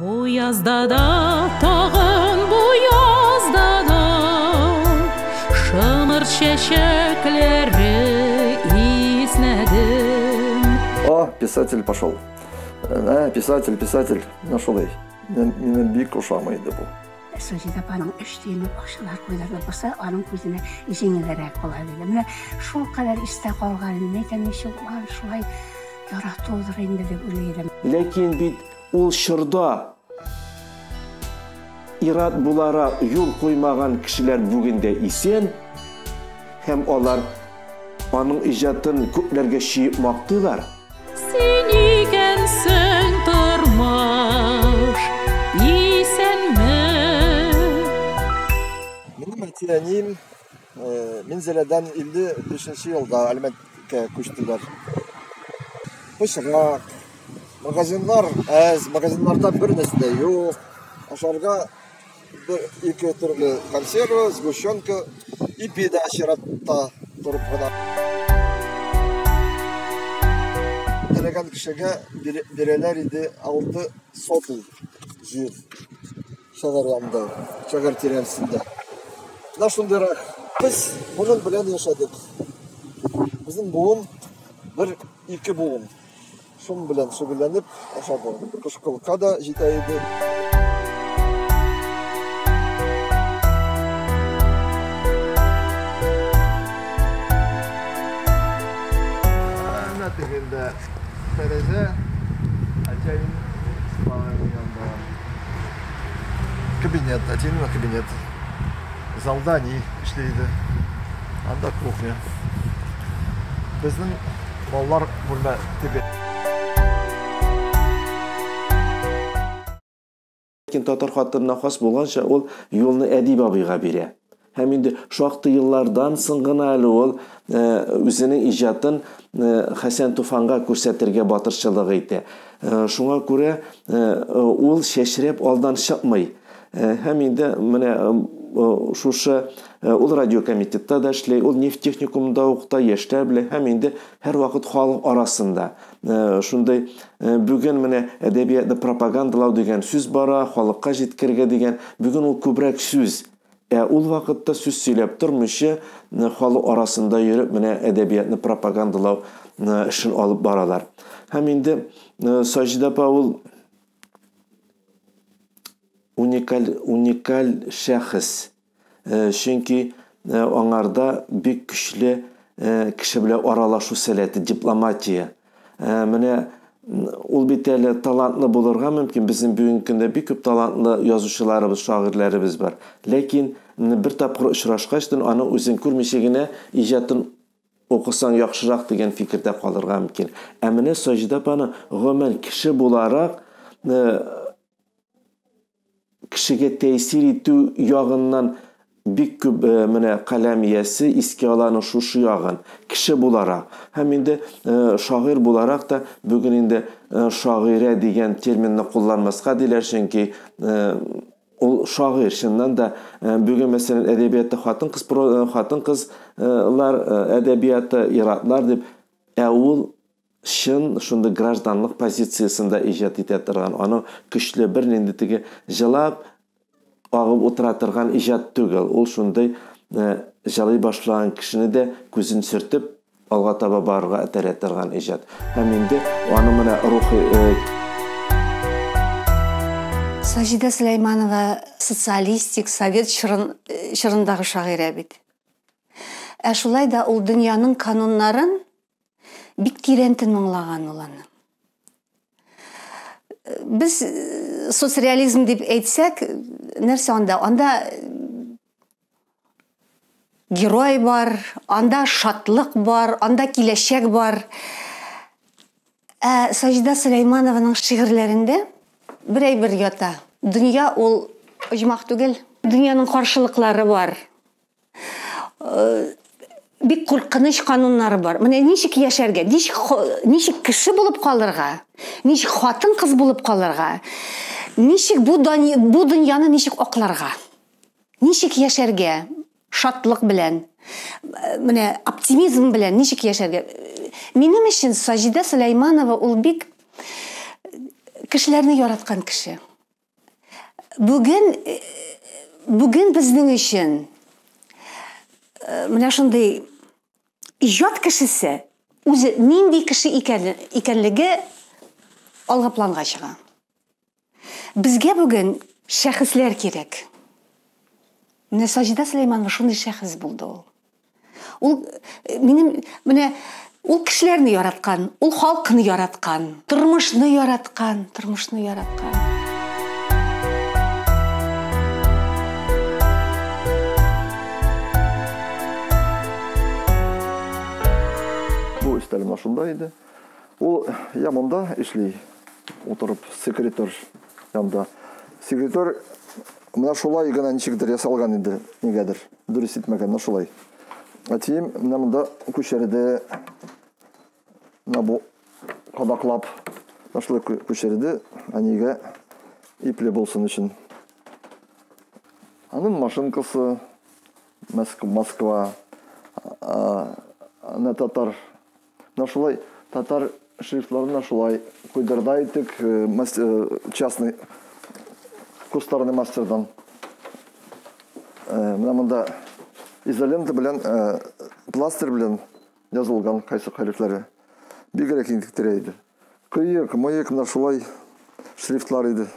Бу язда да тагын бу язда да шымыр чәчәкләре иснәдем. О, писатель пошел. Ә, писатель, писатель. Менә шулай. Мине бик ошамый иде бу. Саҗид апаның өч тиене бакчалар куйдырылып барса, аның күзенә җиңелрәк була иде. Менә шул кадәр истә калган, нәйтәм ничек ул шулай яратудыр инде дип уйлый идем. Ләкин бит Ул чорда ират буларак юл куймаган кешеләр бүген дә исән һәм алар аның иҗатын күпләргә чөеп мактыйлар. Син икәнсең тормыш, исәнме? Минем әти-әнием Э, Минзәләдән 55 елда Әлмәткә күчтеләр. Пычрак, магазиннар әз, магазиннарда бер нәрсә дә юк. Ашарга бер ике төрле консерва, сгущенка, ипи дә чиратта торып гына. Теләгән кешегә бирәләр иде 6 сотый җир. Шагарламда, шагар тирәсендә. Менә шундыйрак. Без буын белән яшәдек. Безнең буын бер ике буын. Шум белән шөгыльләнеп ашады. Кышкылка да җитә иде. Әнә тегендә тәрәзә, әтием спа дигән бар. кабинет, әтинең генә кабинет. Залда ни эшли иде. Анда кухня. Безнең балалар бүлмә теге. Ләкин татар хатынына хас булганча, ул юлны әдип абыйга бирә. Һәм инде шактый еллардан соң гына әле ул үзенең иҗатын Хәсән Туфанга күрсәтергә батырчылык итә. Шуңа күрә ул чәчрәп алдан чыкмый. Һәм инде менә шушы ул радиокомитетта да эшли, ул нефть техникумында укыта, яшьләр белән һәм инде һәрвакыт халык арасында. Шундый бүген менә әдәбиятны пропагандалау дигән сүз бара, халыкка җиткергә дигән. Бүген ул күбрәк сүз. Ә ул вакытта сүз сөйләп тормыйча, халык арасында йөреп менә әдәбиятны пропагандалау эшен алып баралар. Һәм инде Саҗидә апа ул уникаль уникаль шәхес. Чөнки аңарда бик көчле кеше белән аралашу сәләте, дипломатия Ә, менә ул бит әле талантлы булырга мөмкин. Безнең бүгенге көндә бик күп талантлы язучыларыбыз, шагыйрьләребез бар. Ләкин бер тапкыр очрашкач, аны үзен күрмичә генә иҗатын укысаң яхшырак дигән фикердә калырга мөмкин. Ә менә Саҗидә апаны гомумән кеше буларак кешегә тәэсир итү ягыннан бик күп э, менә каләм иясе искә ала аның шушы ягын кеше буларак һәм инде э, шагыйрь буларак та бүген инде э, шагыйрә дигән терминны кулланмаска диләр чөнки ул шагыйрь чыннан да бүген мәсәлән әдәбиятта хатын кыз хатын кызлар әдәбияты иратлар дип ә ул чын шундый гражданлык позициясендә иҗат итә торган, аның көчле, бернинди теге җылап агып утыра торган иҗат түгел. Ул шундый җылый башлаган кешене дә күзен сөртеп, алга таба барырга этәрә торган иҗат. Һәм инде аны менә рухи Саҗидә Сөләйманова социалистик, совет чорын, чорындагы шагыйрә бит. Ә шулай да ул дөньяның кануннарын Бик тирән тыңлаган ул аны. Без э, соцреализм дип әйтсәк, нәрсә анда? Анда герой бар, анда шатлык бар, анда киләчәк бар. Ә Саҗда Сөләйманованың шигырьләрендә бер әйбер ята. Дөнья ул оҗмах түгел. Дөньяның каршылыклары бар. бик куркыныч кануннары бар. Менә ничек яшәргә, ничек ничек кеше булып калырга, ничек хатын-кыз булып калырга, ничек бу бу дөньяны ничек акларга, ничек яшәргә шатлык белән, менә оптимизм белән ничек яшәргә. Минем өчен Саҗидә Сөләйманова ул бик кешеләрне яраткан кеше. Бүген бүген безнең өчен менә шундый иҗат кешесе үзе нинди кеше икән, икәнлеге алга планга чыга. Безгә бүген шәхесләр кирәк. Менә Саҗида Сөләйманова шундый шәхес булды ул. Ул э, минем менә ул кешеләрне яраткан, ул халкны яраткан, тормышны яраткан, тормышны яраткан. Бу өстәлем шунда иде. Ул я монда эшли, утырып секретарь янда. Секретарь менә шулай гына ничектер ясалган иде, нигәдер. Дөрес итмәгәннәр шулай. Әтием менә монда күчерде. Менә бу кадаклап шулай күчерде. Әнигә ипле булсын өчен. Анын машинкасы Москва. Ана татар Менә шулай татар шрифтларына шулай куйдырда идек, э, э, частный кустарный мастердан. Э, менә монда изолента белән пластер белән язылган кайсы хәрефләре. Бигрәк интектерә иде. Кыек, мыек кына шулай шрифтлар иде.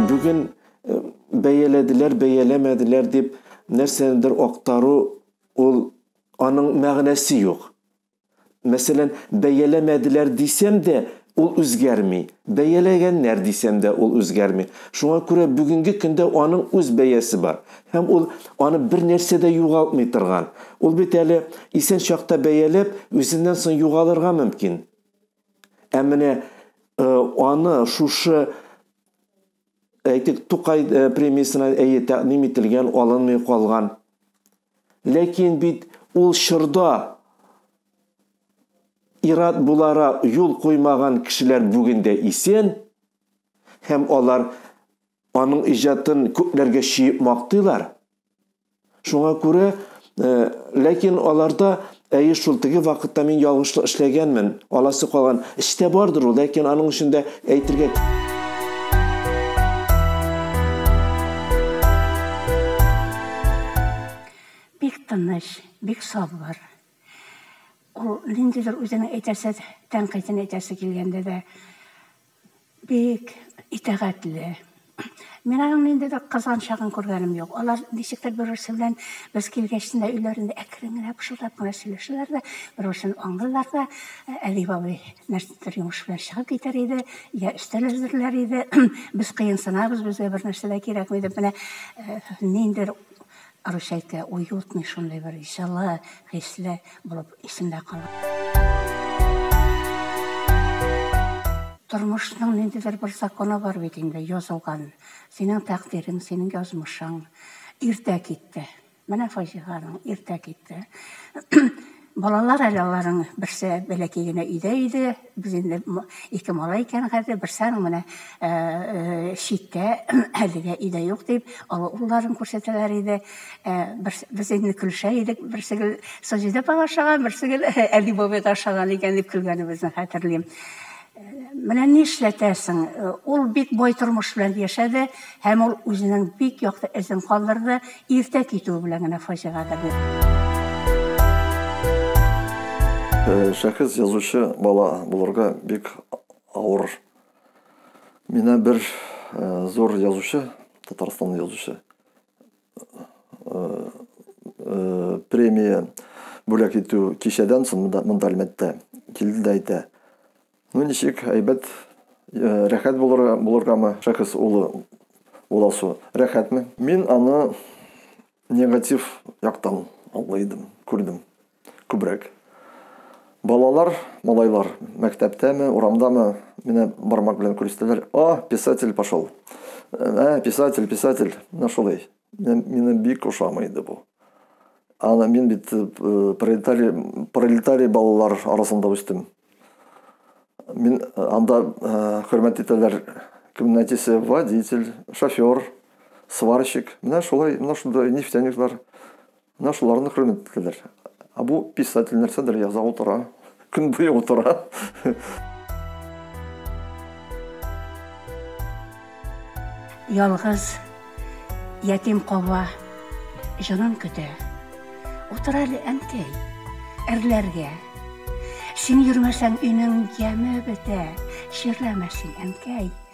Бүген бәяләделәр, бәяләмәделәр дип нәрсәнедер актару, ул аның мәгънәсе юк. Мәсәлән, бәяләмәделәр дисәм дә, ул үзгәрми. Бәяләгәннәр дисәм дә, ул үзгәрми. Шуңа күрә бүгенге көндә аның үз бәясе бар. Һәм ул аны бер нәрсә дә югалтмый торган. Ул бит әле исән чакта бәяләп, үзеннән соң югалырга мөмкин. Ә менә э, аны шушы әйтик, Тукай э, премиясенә әйе тәкъдим ителгән, алынмый калган. Ләкин бит ул чорда ират булара юл куймаган кешеләр бүген дә исән һәм алар аның иҗатын күпләргә чиеп мактыйлар. Шуңа күрә, э, ләкин аларда әйе шул теге вакытта мин ялгышлык эшләгәнмен, аласы калган. Эчтә бардыр ул, ләкин аның өчен дә әйтергә Бик тыныч, бик сабыр. Ул ниндидер үзенең әйтәсе тәнкыйтен әйтәсе килгәндә дә Бик итәгатьле. Мин аның нинди бер кызганчагын күргәнем юк. Алар ничектер бер-берсе белән без килгәч тә өйләрендә әкрен генә пышылдап кына сөйләшәләр дә, бер-берсен аңлыйлар да. Әби бабай нәрсәдер йомыш белән чыгып китәр иде, йә өстәл әзерләр иде. Без кыенсынабыз, безгә бернәрсә дә кирәкми дип, менә ниндидер Русяйка уютный шундый бер җылы хисле булып исемдә кала. Тормышның ниндидер бер законы бар бит инде, язылган. Синең тәкъдирең, синең язмышың иртә китте. Менә фаҗиганың иртә китте. Балалар әле аларның берсе бәләкәй генә өйдә иде, без инде ике малай икән хәзер, берсе аның менә читтә, әлегә өйдә юк, дип, олы улларын күрсәтәләр иде. Без инде көлешә идек, берсе гел Саҗидә апага ошаган, берсе гел Әли бабайга ошаган икән, дип көлгәнебезне хәтерлим. Менә нишләтәсең, ул бик бай тормыш белән яшәде һәм ул үзенең бик якты эзен калдырды, иртә китүе белән генә фаҗига да бирде. Шәхес язучы бала булырга бик авыр. Менә бер зур язучы, Татарстанның язучы, премия бүләк итү кичәдән соң монда, монда әлмәттә килде дә әйтә ну ничек әйбәт э, рәхәт булырга булыргамы шәхес улы уласу рәхәтме мин аны негатив яктан аңлый идем күрдем Күбрәк. Балалар, малайлар, мәктәптәме, урамдамы, менә бармак белән күрсәтәләр, О, писатель пошел! Ә, писатель, писатель! Менә шулай. Мина бик ошамый иде бу. Ана мин бит э, пролетарий, пролетарий балалар арасында үстем. Мин э, анда э, хөрмәт итәләр кемне әтисе водитель, шофер, сварщик. Менә шулай, менә шунда нефтяниклар. Менә шуларны хөрмәт итәләр. Ә бу писатель нәрсәдер яза утыра, көн буе утыра. Ялгыз ятим калуа җанын көтә. Утыр әле, әнкәй, әрләргә. Син йөрмәсәң, өйнең яме бетә. Чирләмә син, әнкәй.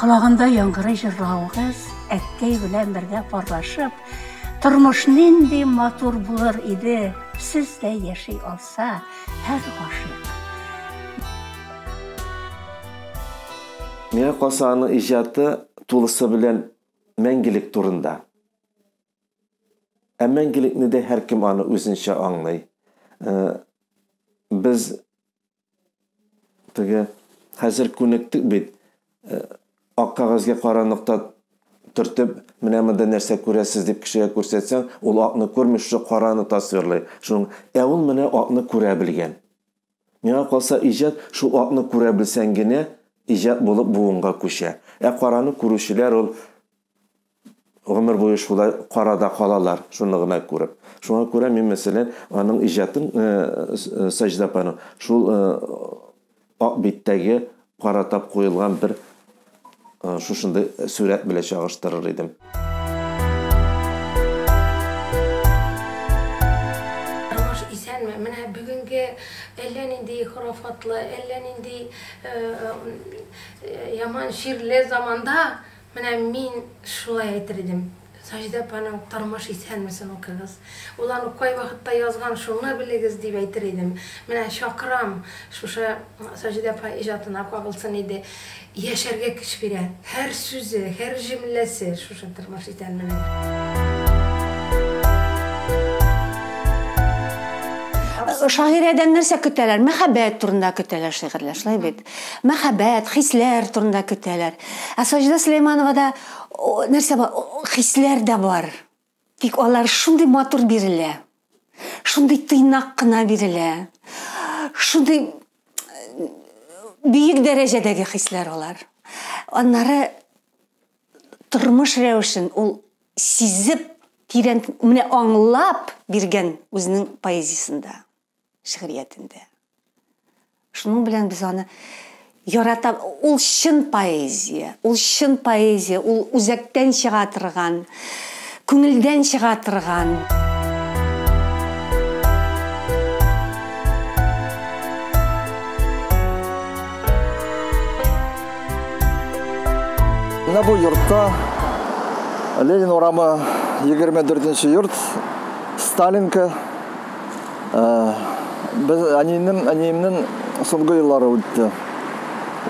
Колагында яңгырый җырлавыгыз, әткәй белән бергә парлашып, тормыш нинди матур булыр иде, сез дә яши алса, һәр гашыйк. Миңа калса, аның иҗаты тулысы белән мәңгелек турында. Ә мәңгелекне дә һәркем аны үзенчә аңлый. Без Теге хәзер күнектек бит. Э, ак кәгазьгә кара нокта төртеп, менә монда нәрсә күрәсез дип кешегә күрсәтсәң, ул акны күрми, шушы караны тасвирлый. Шуның, ә ул менә акны күрә белгән. Миңа калса, иҗат шул акны күрә белсәң генә иҗат булып буынга күчә. Ә караны күрүчеләр ул гомер буе шулай карада калалар, шуны гына күреп. Шуңа күрә мин, мәсәлән, аның иҗатын э, э, Саҗда апаның шул э, ак биттәге каратап куелган бер шушындый сурәт белән чагыштырыр идем. Роман ширле заманда Менә мин шулай әйтер идем. Саҗидә апаның Тормыш исәнмесен укыгыз. Ул аны кай вакытта язган, шуны белегез, дип әйтер идем. Менә чакырам, шушы Саҗидә апа иҗатына кагылсын иде. Яшәргә көч бирә. Һәр сүзе, һәр җөмләсе шушы Тормыш исәнменең. Шагыйрәдән нәрсә көтәләр? Мәхәббәт турында көтәләр шигырьләр, шулай бит? Мәхәббәт, хисләр турында көтәләр. Ә Саҗидә Сөләймановада нәрсә бар? Хисләр дә бар. Тик алар шундый матур бирелә. Шундый тыйнак кына бирелә. Шундый бөек дәрәҗәдәге хисләр алар. Аннары тормыш рәвешен ул сизеп, тирән, менә аңлап биргән үзенең поэзиясендә. шигъриятендә. Шуның белән без аны ярата ул чын поэзия, ул чын поэзия, ул үзәктән чыга торган, күңелдән чыга торган. Менә бу йортта Ленин урамы 24 нче йорт, Сталинка, Э, без әниемнең әниемнең соңгы еллары үтте.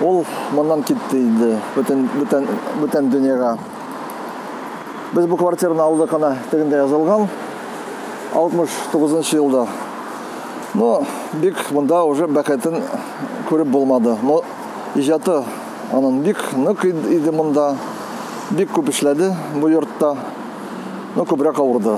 Ул моннан китте инде, бүтән бүтән бүтән дөньяга. Без бу квартираны алдык ана тегендә язылган 69 елда. Но бик монда уже бәхетен күреп булмады. Но иҗаты анын бик нык иде монда. Бик күп эшләде бу йортта. Но күбрәк авырды.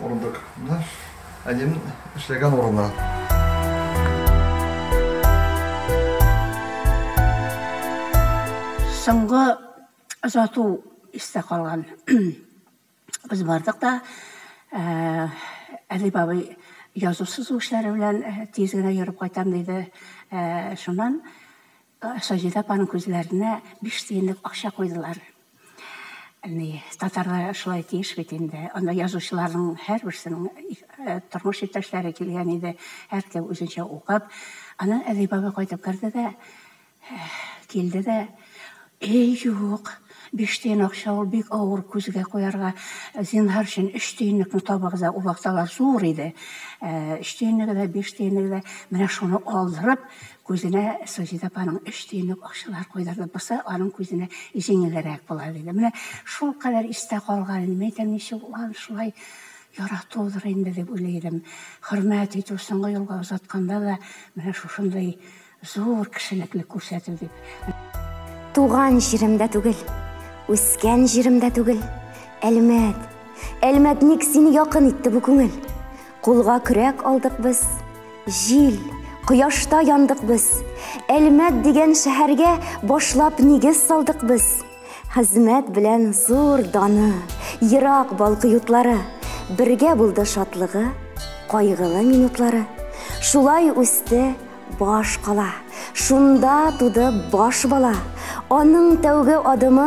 Урындык. Менә әнием эшләгән урыны. Соңгы озату истә калган. Без бардык та, Әдип абый язу-сызу эшләре белән тиз генә йөреп кайтам диде. Шуннан Саҗидә апаның күзләренә биш тиенлек акча куйдылар. Ни, татарлар шулай тиеш бит инде. Анда язучыларның һәрберсенең тормыш иптәшләре килгән иде, һәркем үзенчә укып. Аннан Әдип бабай кайтып керде дә, килде дә, Әй, юк, биш тиен акча ул бик авыр күзгә куярга. Зинһар өчен, өч тиенлекне табыгыз да, ул вакыт алар зур иде. Өч тиенлеге дә, биш тиенлеге дә, менә шуны алдырып, Күзенә Саҗидә апаның өч тиенлек акчалар койдырды, бусы аның күзенә җиңелрәк була, диде. Менә шулкадәр истә калган иде. Мин әйтәм, ничек ул аны шулай яратудыр инде, дип уйлый идем. Хөрмәт итү, соңгы юлга озатканда да менә шушындый зур кешелекле күрсәтү дип. Туган җирем дә түгел, үскән җирем дә түгел, Әлмәт, Әлмәт, ник сине якын итте бу күңел? Кулга көрәк алдык без, җил, кояшта яндык без. Әлмәт дигән шәһәргә башлап нигез салдык без. Хезмәт белән зур даны, ерак балкы ютлары, бергә булды шатлыгы, кайгылы минутлары. Шулай үсте баш кала, шунда туды баш бала. Аның тәүге адымы